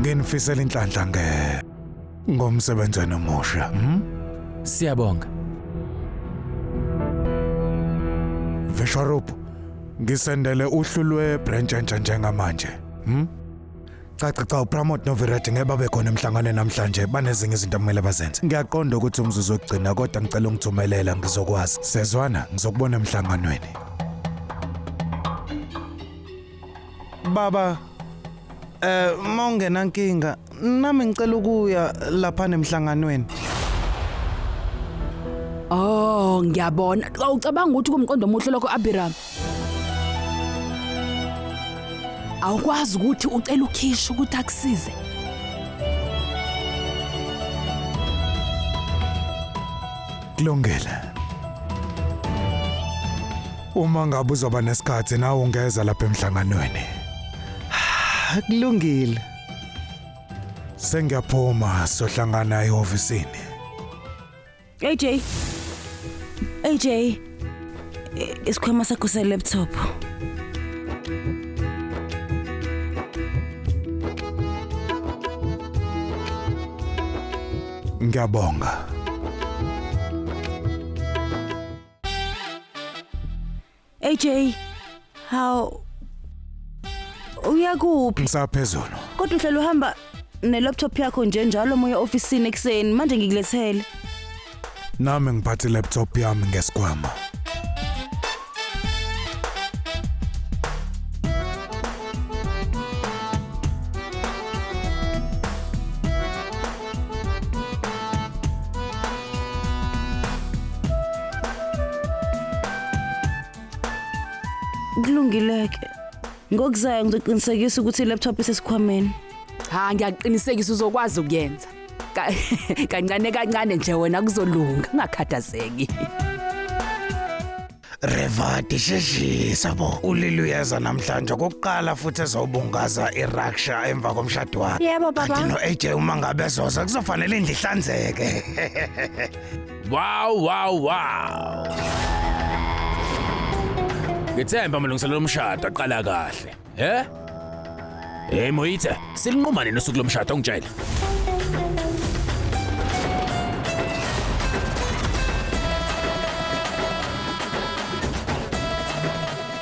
Nginifisela inhlanhla nge ngomsebenzi omusha. Hmm? Siyabonga. Visharup, ngisendele uhlu lwe branch entsha njengamanje. Hmm? Caca cha uPramod noVirat ngeke babe khona emhlanganweni namhlanje banezinye izinto okumele bazenze. Ngiyaqonda ukuthi umzuzu wokugcina kodwa ngicela ungithumelela ngizokwazi. Sezwana ngizokubona emhlanganweni. Baba eh mawungena nkinga nami ngicela ukuya lapha nemhlanganweni. Oh, ngiyabona. Awucabanga ukuthi kumqondo omuhle lokho Abiram? Awukwazi ukuthi ucela ukhisha ukuthi akusize. Kulungile. Uma ngabe uzoba nesikhathi nawe ungeza lapha emhlanganweni. Akulungile. Sengiyaphuma sohlangana ehofisini. AJ. AJ. I- Isikhwama sakho se laptop. Ngiyabonga. AJ, how uyakuphi? Ngisaphezulu. Kodwa uhlala uhamba ne-laptop yakho nje njalo moya ofisini ekuseni manje ngikulethele. Nami ngiphathe laptop yami ngesikhwama. kulungile-ke ngokuzayo ngizoqinisekisa ukuthi i-laptop isesikhwameni cha ngiyakuqinisekisa uzokwazi ukuyenza Ka- kancane kancane nje wena kuzolunga ungakhathazeki Revati sheshisa bo ulili uyeza namhlanje okokuqala futhi ezobungaza iRussia emva komshado wakhe Yebo kanti baba. no-AJ uma ngabe ezoza kuzofanele indlu ihlanzeke Wow wow wow. Ngithemba amalungiselelo omshado aqala kahle. He? Hey Moitse, silinquma nini usuku lomshado ungitshele?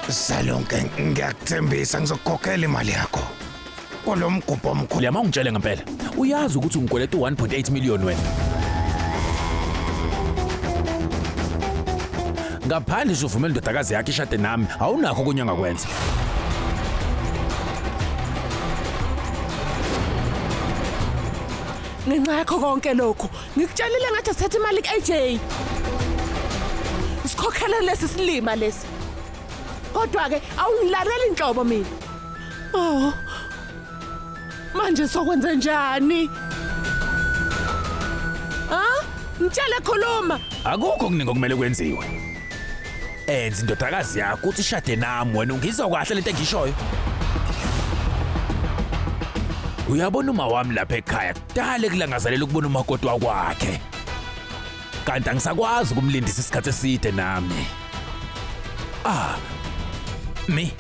Salonke ngiyakuthembisa ngizokukhokhela imali yakho. Kulo mgubho omkhulu. Liyama ungitshele ngempela. Uyazi ukuthi ungikweleta u-1.8 million wena. ngaphandle nje uvumela indodakazi yakhe ishade nami awunakho okunye angakwenza ngenxa yakho konke lokhu ngikutshelile ngathi sithatha imali ku-aj sikhokhele lesi silima lesi kodwa-ke awungilaleli nhlobo mina oh Manje sokwenze njani? Ha? Mtshele khuluma. Akukho kuningi okumele kwenziwe. Enza indodakazi yakho ukuthi ishade nami wena ungizwa kahle lento engishoyo. Uyabona uma wami lapha ekhaya kudale kulangazelela ukubona umakoti wakwakhe. kanti angisakwazi ukumlindisa isikhathi eside nami ah mi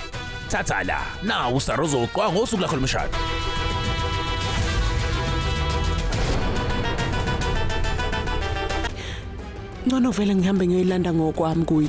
thatha la nawu usarozo uqwa ngosuku lakho lomshado ngcono vele ngihambe ngiyoyilanda ngokwami kuye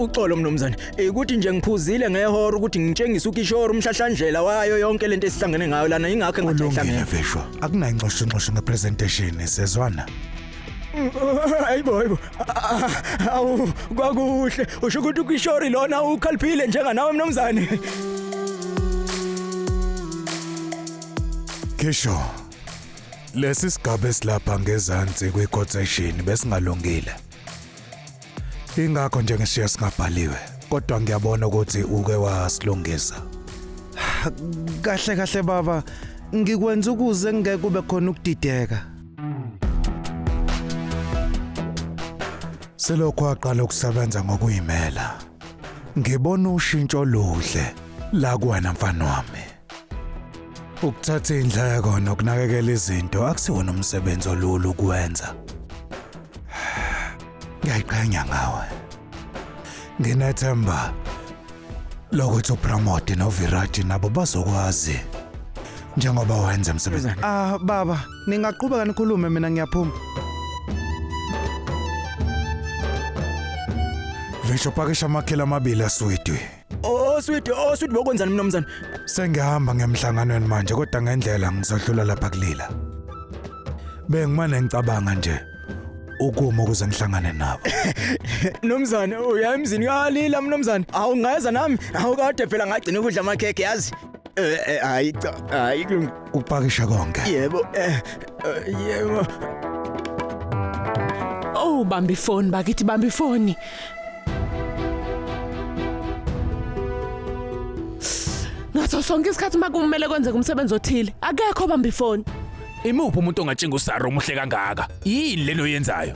uxolo mnumzane ikuthi nje ngiphuzile ngehora ukuthi ngitshengise ukishoro umhlahlandlela wayo yonke lento esihlangene ngayo lana ingakho engahlangene veshwa akunayo inxoxo inxoxo ngepresentation sezwana hayibo hayibo awu kwakuhle usho ukuthi ukishori lona ukhaliphile njenganawe mnumzane Kesho Lesi sigaba esilapha ngezansi kwi-quotation besingalungile. Ingakho nje ngishiya singabhaliwe, kodwa ngiyabona ukuthi uke wasilungisa. Kahle kahle baba, ngikwenza ukuze ngeke kube khona ukudideka. Selokhu aqala ukusebenza ngokuyimela, ngibona ushintsho oluhle la kuwena mfana wami. Ukuthatha indleko nokunakekela izinto akusiwona umsebenzi olula ukuwenza. Ngiyayiqhenya ngawe. Nginethemba lokuthi uPramodi noVirat nabo bazokwazi njengoba wenza emsebenzi. Ah baba, ningaqhubeka nikhulume mina ngiyaphuma. Visho pakisha amakhela amabili aswidwi. Oswidi, oswidi bokwenzani mnumzane? Sengihamba ngemhlanganweni manje kodwa ngendlela ngizodlula lapha kulila. Bengimane ngicabanga nje ukuma ukuze ngihlangane nabo. Mnumzane, uya emzini kalila mnumzane. Awungeza nami, awukade phela ngagcina ukudla amakhekhe yazi. Eh, eh, hayi cha hayi kulung- Ukupakisha konke. yebo eh eh, yebo Oh bamba ifoni bakithi bamba ifoni. Ngaso sonke isikhathi uma kumele kwenzeke umsebenzi othile akekho bamba ifoni. Imuphi umuntu ongatshinga usaro omuhle kangaka? Yini leno yenzayo?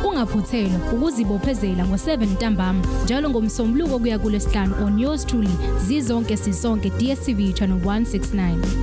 Ungaphuthelwa ukuzibophezela ngo-7 ntambama njalo ngomsombuluko kuya kulesihlanu on yours truly zizonke sisonke DSTV channel 169.